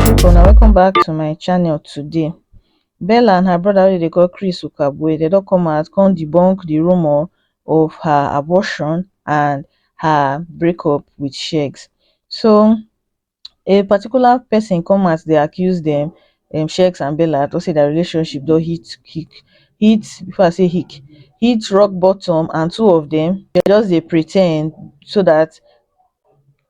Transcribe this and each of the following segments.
people na welcome back to my channel today bella and her brother wey dey call chris ukabue they don come out come debunk the rumor of her abortion and her breakup with shegs so a particular pesin come out dey accuse dem dem shakes and bella tok say dia relationship don hit hic hit before i say hic hit rock bottom and two of dem just dey pre ten d so dat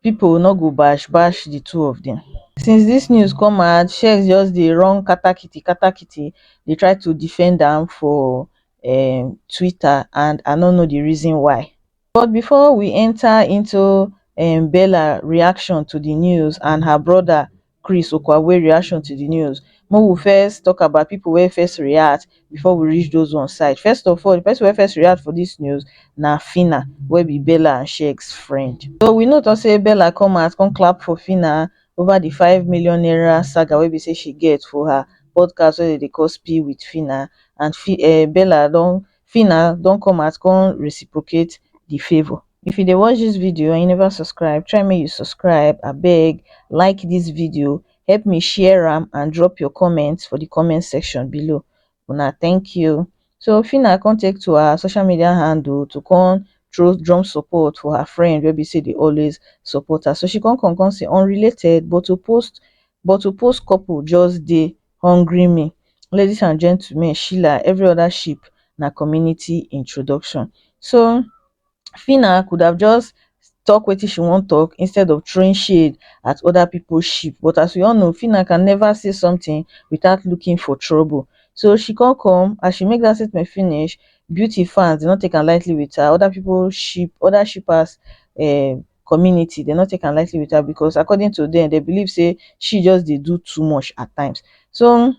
pipo no go bash bash di two of dem since dis news come out shakes just dey run katakiti katakiti dey try to defend am for um twitter and i no know di reason why but bifor we enta into um bella reaction to di news and her broda chris okwabwe reaction to di news make we first tok about pipo wey first react bifor we reach those ones side first of all di pesin wey first react for dis news na phyna wey be bella and sheggz friend so we know tok say bella come out come clap for phyna ova di five million naira saga wey be say she get for her podcast wey dem dey call spill wit phyna and um bella don phyna don come out come reciprocate the favour if you dey watch this video and you never subscribe try make you subscribe abeg like this video help me share am and drop your comment for the comment section below una thank you so phyna come take to her social media handle to come throw drum support for her friend wey be say dey always support her so she come come come say unrelated but to post but to post couple just dey hungry me ladies and gentlemen sheila every other ship na community introduction so Phyna could have just talk wetin she wan talk instead of throwing shade at other people ship but as we all know Phyna can never say something without looking for trouble so she come come as she make that statement finish beauty fans did not take am lightly with her other people ship other shippers um community dem no take am lightly with her because according to dem dem believe say she just dey do too much at times so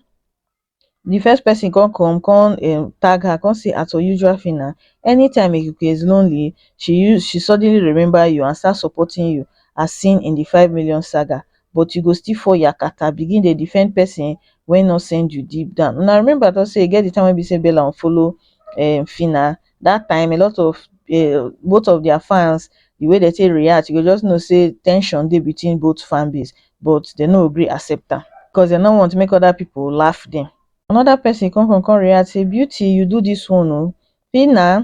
the first person come come come um tag her come say as usual Phyna anytime Ikuku is lonely she use she suddenly remember you and start supporting you as seen in the five million saga but you go still fall yakata begin dey defend person wey no send you deep down una remember na say e get the time wey be say Bella unfollow um Phyna that time a lot of um both of their fans the way dem take react you go just know say ten sion dey between both fan base but dem no gree accept am because dem no want make other people laugh dem another person come come come react say beauty you do this one oo see na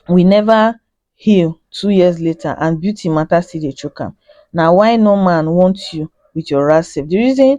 we never heal two years later and beauty matter still dey choke am na why no man want you with your ras sef the reason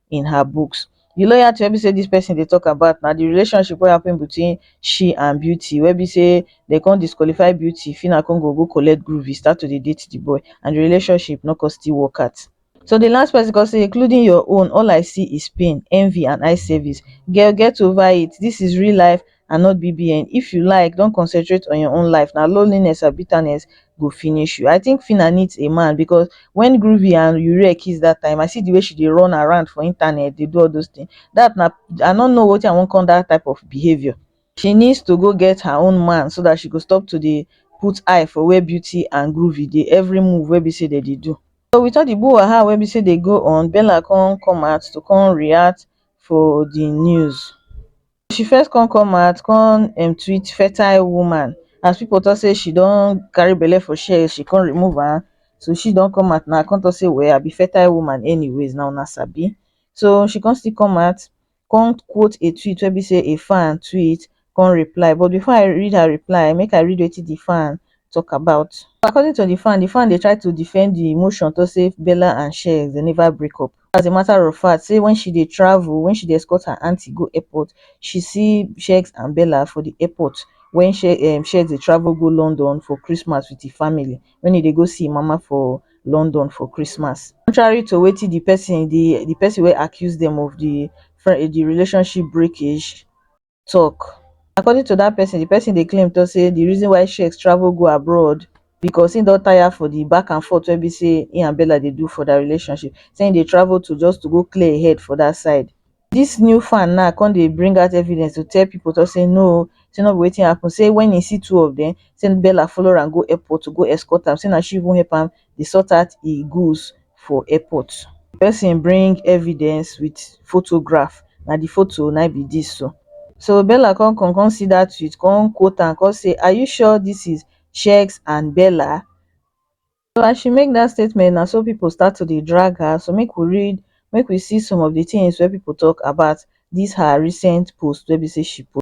in her books the loyalty wey be sey this person dey talk about na the relationship wey happen between she and beauty wey be sey dey come disqualify beauty phyna come go go collect groovy start to dey date the boy and the relationship no come still work out so the last person come say including your own all i see is pain envy and eye service girl get over it this is real life i no be bbn if you like don concentrate on your own life na loneliness and bitterness go finish you i think phyna needs a man because when groovy and uriel kiss that time i see the way she dey run around for internet dey do all those things that na i no know wetin i wan call that type of behaviour she needs to go get her own man so that she go stop to dey put eye for where beauty and groovy dey every move wey be say dem dey do so with all the brouhaha wey be say dey go on bella come come out to come react for the news she first con come out con um treat fertile woman as people talk say she don carry belle for share she con remove am so she don come out now con talk say well i be fertile woman anyways na una sabi so she con still come out con quote a tweet wey be say a fan tweet con reply but before i read her reply make i read wetin the fan talk about according to the fan the fan dey try to defend the motion talk say bella and shey dem never break up as a matter of fact say wen she dey travel wen she dey escort her aunty go airport she see shegs and bella for di airport wen um shegs dey travel go london for christmas wit im family wen e dey go see im mama for london for christmas contrary to wetin di pesin di di pesin wey accuse dem of di di relationship breakage tok according to dat pesin di pesin dey claim to say di reason why shakes travel go abroad becos im don tire for di back and forth wey be say im and bella dey do for dia relationship say im dey travel to just to go clear im head for dat side dis new fan now come dey bring out evidence to tell pipo to say no say no be wetin happun say wen im see two of dem say bella follow am go airport to go escort am say na she even help am dey sort out e goods for airport. Di pesin bring evidence wit photograph, na di photo na im be dis so. So Bella come come come see dat tweet come quote am come say are you sure dis is Sheggz and Bella? So as she make dat statement na so pipu start to dey drag her, so make we read make we see some of di tins wey pipu tok about dis her recent post wey be say she post.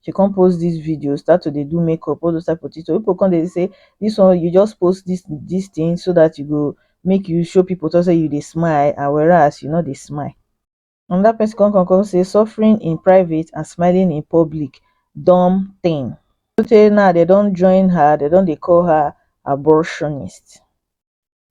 she come post this video start to dey do makeup all those type of things so people come dey say this one you just post this this thing so that you go make you show people talk say you dey smile and whereas you no dey smile another person come come come say suffering in private and smiling in public dumb thing so tey now they don join her they don dey call her abortionist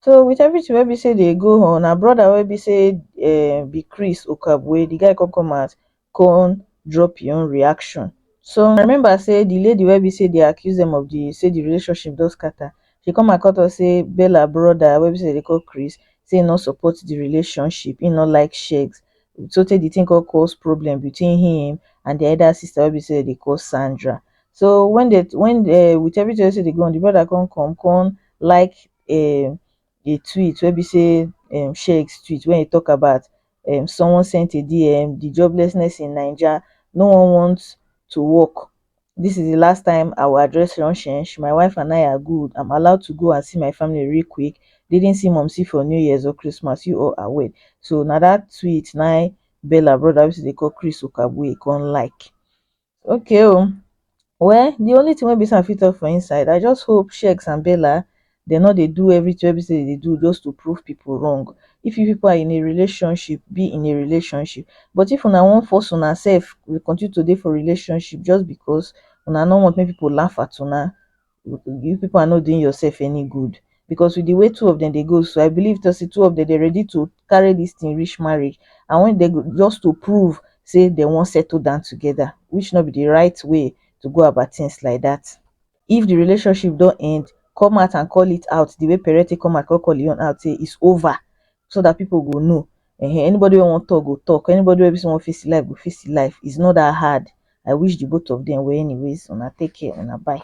so with everything wey be say dey go on her brother wey be say um be chris okagbue the guy come come out come drop him own reaction so una remember say the lady wey be say dey accuse them of the say the relationship don scatter she come out come talk say bella brother wey be say dem dey call chris say he no support the relationship he no like sex so tey the thing come cause problem between him and the elder sister wey be say dem dey call sandra so when they when um with everything wey be say dey go on the brother come come come like um a tweet wey be say um shakes tweet wey e tok about um someone sent a dm di joblessness in naija no one want to work dis is di last time i will address nonsense my wife and i are good i'm allowed to go and see my family real quick didn't see mumsy for new years or christmas you all are well so na dat tweet na im Bella brother wey still dey call Chris Okagbue come like Okay o, oh. well the only thing wey be say I fit talk for inside, I just hope Sheikh and Bella they no dey do everything wey be say they do just to prove people wrong. If you people are in a relationship, be in a relationship. But if una wan force una self, we continue to dey for relationship just because una no want make people laugh at una, you people are not doing yourself any good because with the way two of them they go so i believe to see two of them they ready to carry this thing reach marriage and when they go just to prove say they won't settle down together which not be the right way to go about things like that if the relationship don't end come out and call it out the way parent come out call call it out say it's over so that people go know um anybody wey wan talk go talk anybody wey be say wan face him life go face him life is not that hard i wish the both of them well anyways una take care una bye.